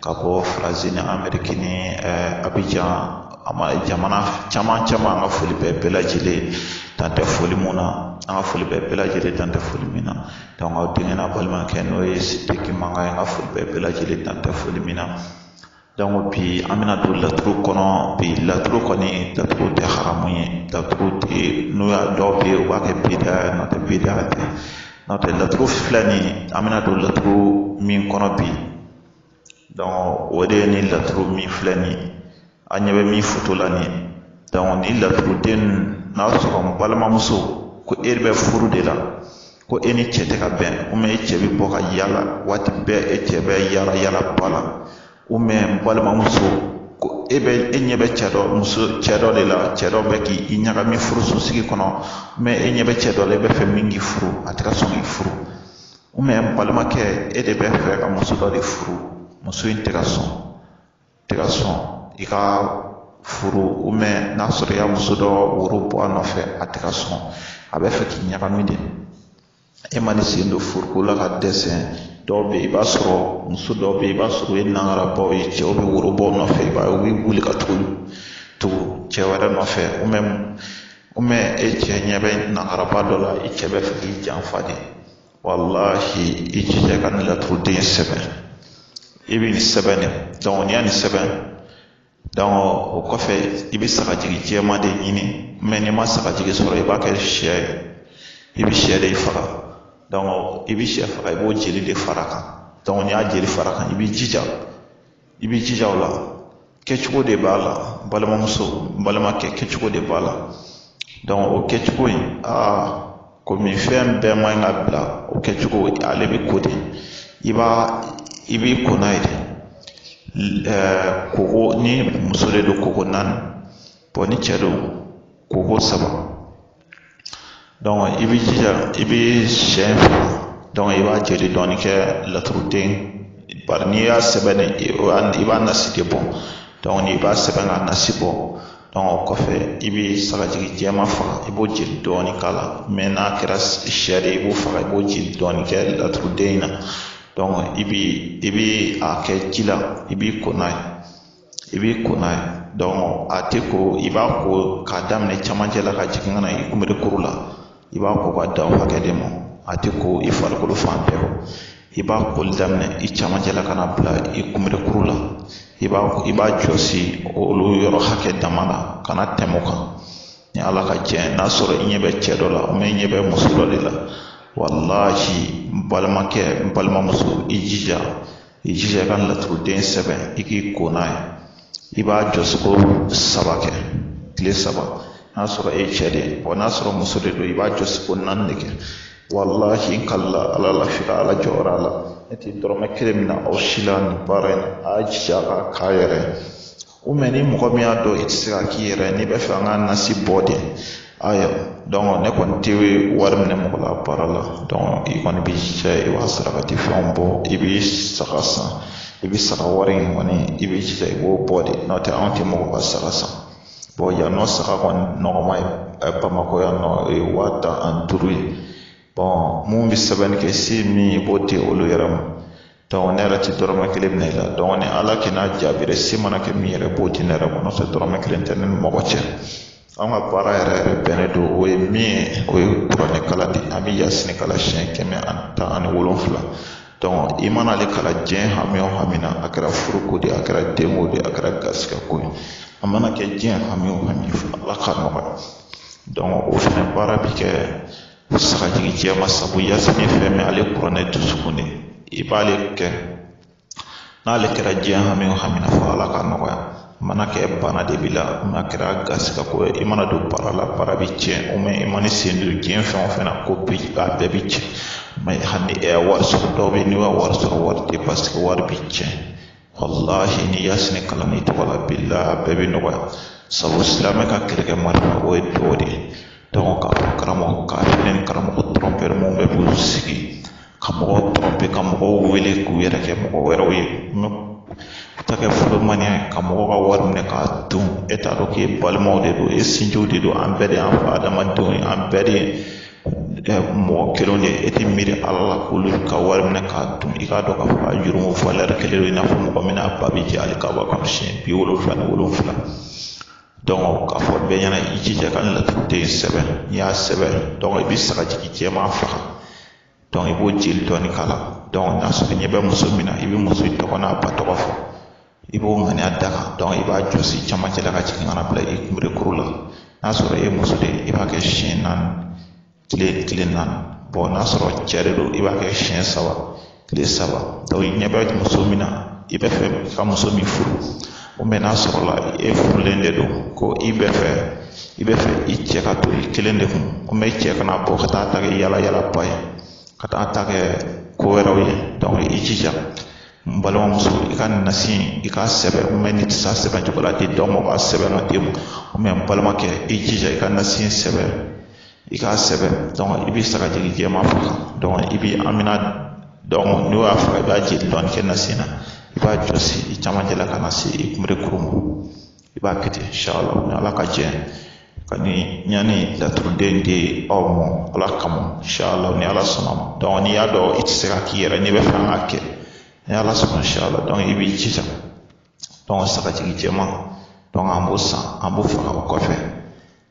ka bɔ faransi ni ameriki ni abijan a ma jamana caman caman an ka foli bɛɛ bɛɛ lajɛlen dan tɛ foli min na an ka foli bɛɛ bɛɛ lajɛlen dan tɛ foli min na aw denkɛ n'aw balimakɛ n'o ye sidiki mankan ye an ka foli bɛɛ bɛɛ lajɛlen dan tɛ foli min na donc bi an bɛna don laturu kɔnɔ bi laturu kɔni laturu tɛ haramu ye laturu tɛ n'u y'a dɔw bɛ yen u b'a kɛ bida ye n'o tɛ bida tɛ n'o tɛ laturu filɛ nin ye an bɛna don laturu min kɔnɔ bi o de ye nin laturu min filɛ nin ye an ɲɛ bɛ min foto la nin ye donc nin laturuden ninnu n'a sɔrɔ n balimamuso ko e bɛ furu de la ko e ni cɛ tɛ ka bɛn e cɛ bɛ bɔ ka yaala waati bɛɛ e cɛ bɛ yaala yaala ba la n balimamuso ko e bɛ e ɲɛ bɛ cɛ dɔ muso cɛ dɔ de la cɛ dɔ bɛ k'i ɲagami furusosigi kɔnɔ e ɲɛ bɛ cɛ dɔ la e b'a fɛ min k'i furu a tɛ ka sɔn k'i furu balimakɛ e de bɛ fɛ ka muso dɔ de furu muso in tɛ ka sɔn tɛ ka sɔn i ka furu n'a sɔrɔ i ye muso dɔ woro bɔ a nɔfɛ a tɛ ka sɔn a bɛ fɛ k'i ɲagami de e man'i sen don furuko la ka dɛsɛ dɔw bɛ yen i b'a sɔrɔ muso dɔw bɛ yen i b'a sɔrɔ o ye nangarabaw ye cɛw bɛ woro bɔ u nɔfɛ i b'a ye u bɛ wuli ka tugu tugu cɛ wɛrɛ nɔfɛ e cɛ ɲɛ bɛ nangaraba dɔ la i cɛ bɛ fɛ k'i janfa de walahi i jija ka nin laturuden sɛbɛn i bɛ nin sɛbɛn de donc n'i ye nin sɛbɛn donc o kɔfɛ i bɛ sagajigi jɛman de ɲini mais n'i ma sagajigi sɔrɔ i b'a kɛ sɛ ye i bɛ sɛ de faga donc i bɛ sɛ faga i b'o jeli de fara a kan donc n'i y'a jeli fara a kan i b'i jija i b'i jija o la kɛcogo de b'a la balimamuso balimakɛ kɛcogo de b'a la donc o kɛcogo in aa komi fɛn bɛɛ man ɲi ka bila o kɛcogo ale bɛ ko de i b'a i b'i ko n'a ye de koko ni muso de don koko naani bon ni cɛ don koko saba i b'i jija i bɛ sɛ faga donc i b'a jeli dɔɔni kɛ laturuden bari n'i y'a sɛbɛn i b'a nasi de bɔ donc n'i b'a sɛbɛn k'a nasi bɔ donc o kɔfɛ i bɛ sagajigi jɛman faga i b'o jeli dɔɔni k'a la mais n'a kɛra sɛ de ye i b'o faga i b'o jeli dɔɔni kɛ laturuden in na donc i bi i bi a kɛ ji la i b'i ko n'a ye i b'i ko n'a ye a tɛ ko i b'a ko k'a daminɛ camancɛ la ka jigin ka na i kunbere kuru la i b'a ko ka da o hakɛ de ma a tɛ ko i farikolo fan bɛɛ i b'a koli daminɛ i camancɛ la ka na bila i kunbere kuru la i b'a i b'a jɔsi olu yɔrɔ hakɛ dama na kana tɛmɛ o kan ni ala ka jɛ n'a sɔrɔ i ɲɛ bɛ cɛ dɔ la i ɲɛ bɛ muso dɔ de la walahi n balimakɛ n balimamuso i jija i jija i ka laturuden sɛbɛn i k'i ko n'a ye i b'a jɔsi ko saba kɛ tile saba n'a sɔrɔ e cɛ de ye bɔn n'a sɔrɔ muso de don i b'a jɔsi ko naani de kɛ walahi n kalila ala la f'i ka ala jɔyɔrɔ a la ne tɛ dɔrɔmɛ kelen minɛ aw si la nin baara in na a y'a jija a k'a k'a yɛrɛ ye o mɛ ni mɔgɔ min y'a dɔn i tɛ se k'a k'i yɛrɛ n'i bɛ fɛ an ka nasi bɔ de ayiwa dɔnku ne kɔni tɛ wari minɛ mɔgɔ la baara la dɔnku i kɔni b'i jija i b'a sarakati fɛnw bɔ i b'i saga san i bɛ saga wari in kɔni i b'i jija i b'o bɔ de n'o tɛ anw tɛ mɔgɔ ka saga san bɔn yan nɔ saga kɔni nɔgɔma ye bamakɔ yan nɔ o ye waa tan ani duuru ye bɔn minnu bɛ sɛbɛnni kɛ se min ye i b'o di olu yɛrɛ ma dɔnku ne yɛrɛ ti dɔrɔmɛ kelen minɛ i la dɔnku ni ala kɛ n'a jaabira se mana kɛ min yɛrɛ b'o di ne yɛrɛ ma n'o tɛ dɔrɔmɛ kelen tɛ ne ni mɔgɔ cɛ an ka baara yɛrɛ yɛrɛ bɛnnen don o ye min ye o ye kuranɛ kalan de an bɛ yasini kalan siɲɛ kɛmɛ ani tan ani wolonfila i mana ale kalan diɲɛ hami o hami na a kɛra furuko de ye a kɛra denko de ye a kɛra garisigɛ ko ye a mana kɛ diɲɛ hami o hami fɔ ala k'a nɔgɔya o fɛnɛ baara bi kɛ sagajigi jɛman sabu yasini fɛn min ale kuranɛ dusukun de i b'ale kɛ n'ale kɛra diɲɛ hami o hami na fɔ ala k'a nɔgɔya mana kɛ bana de b'i la n'a kɛra garisigɛ ko ye i mana don baara la baara bɛ tiɲɛ o mɛ i mana sen don diɲɛ fɛn o fɛn na ko bi a bɛɛ bɛ tiɲɛ mɛ hali wari sɔrɔ dɔw bɛ yen n'i ka wari sɔrɔ wari tɛ basigi wari bɛ tiɲɛ walahi ni yasini kalanna i tɔgɔ la bilahi a bɛɛ bɛ nɔgɔya sabu silamɛ ka kɛlɛkɛ marama o ye duwa de ye dɔnku k'a fɔ karamɔgɔ k'a fɔ ni karamɔgɔ tɔrɔnpɛri minnu bɛ k'u sigi ka mɔgɔw tɔrɔnpe ka mɔgɔw wele k'u yɛrɛ kɛ mɔgɔ wɛrɛw ye u ta kɛ fɔlɔmaniya ye ka mɔgɔw ka wari minɛ k'a dun e t'a dɔn k'e balimaw de don e sinjiw de don an bɛɛ de y'an fa adama denw ye an bɛɛ de ye mɔgɔ kelen de e tɛ miiri ala la k'olu ka wari minɛ k'a dun i k'a dɔn k'a fɔ a jurumu valɛri kelen don i n'a fɔ mɔgɔ min n'a ba bɛ jɛ hali kaba kɔnɔ siɲɛ bi wolonfila ni wolonfila k'a fɔ bɛɛ ɲɛna i jija ka laturuden in sɛbɛn n'i y'a sɛbɛn i bɛ sagajigi jɛman faga i b'o jeli dɔɔni k'a la n'a sɔrɔ i ɲɛ bɛ muso min na i bɛ muso in tɔgɔ n'a ba tɔgɔ fɔ i b'o ŋaniya da kan i b'a jɔsi camancɛ la ka jigin ka na bila i kunberekuru la n'a sɔrɔ e ye muso de i b'a kɛ siɲɛ naani kile kile naani n'a sɔrɔ cɛ de don i b'a kɛ siɲɛ saba kile saba i ɲɛ bɛ muso min na i bɛ fɛ ka muso min furu n'a sɔrɔla e furulen de don ko i bɛ fɛ i bɛ fɛ i cɛ ka to i kelen de kun o mɛ i cɛ kana bɔ ka taa ta kɛ yalayalaba ye ka taa ta kɛ ko wɛrɛw ye i jija n balimamuso i ka nasi in i k'a sɛbɛn mɛ n'i tɛ se a sɛbɛn cogo la di dɔ ma b'a sɛbɛn k'a d'i ma mɛ n balimakɛ i jija i ka nasi in sɛbɛn i k'a sɛbɛn donc i bɛ sagajigi jɛman faga donc i bɛ a mina donc n'o y'a faga i b'a jeli dɔɔni kɛ nasi na i b'a jɔsi i camancɛ la ka na se i kunberekuru ma i b'a kɛ ten inshallah ni ala ka jɛ ka ni ɲani laturuden di aw ma ala kama inshallah ni ala sɔnna a ma donc n'i y'a dɔn i tɛ se k'a k'i yɛrɛ n'i b'a fɛ an k'a kɛ ni ala sɔnna inshallah donc i b'i jija donc sagajigi jɛman donc an b'o san an b'o faga o kɔfɛ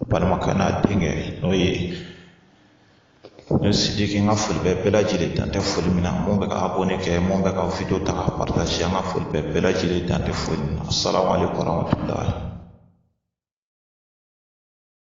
a balimakɛ n'a denkɛ n'o ye ne sidiki n ka foli bɛ bɛɛ lajɛlen dan tɛ foli min na mun bɛ ka abonné kɛ mun bɛ ka video ta ka partager an ka foli bɛ bɛɛ lajɛlen dan tɛ foli min na salamu aleykum warahmatulahi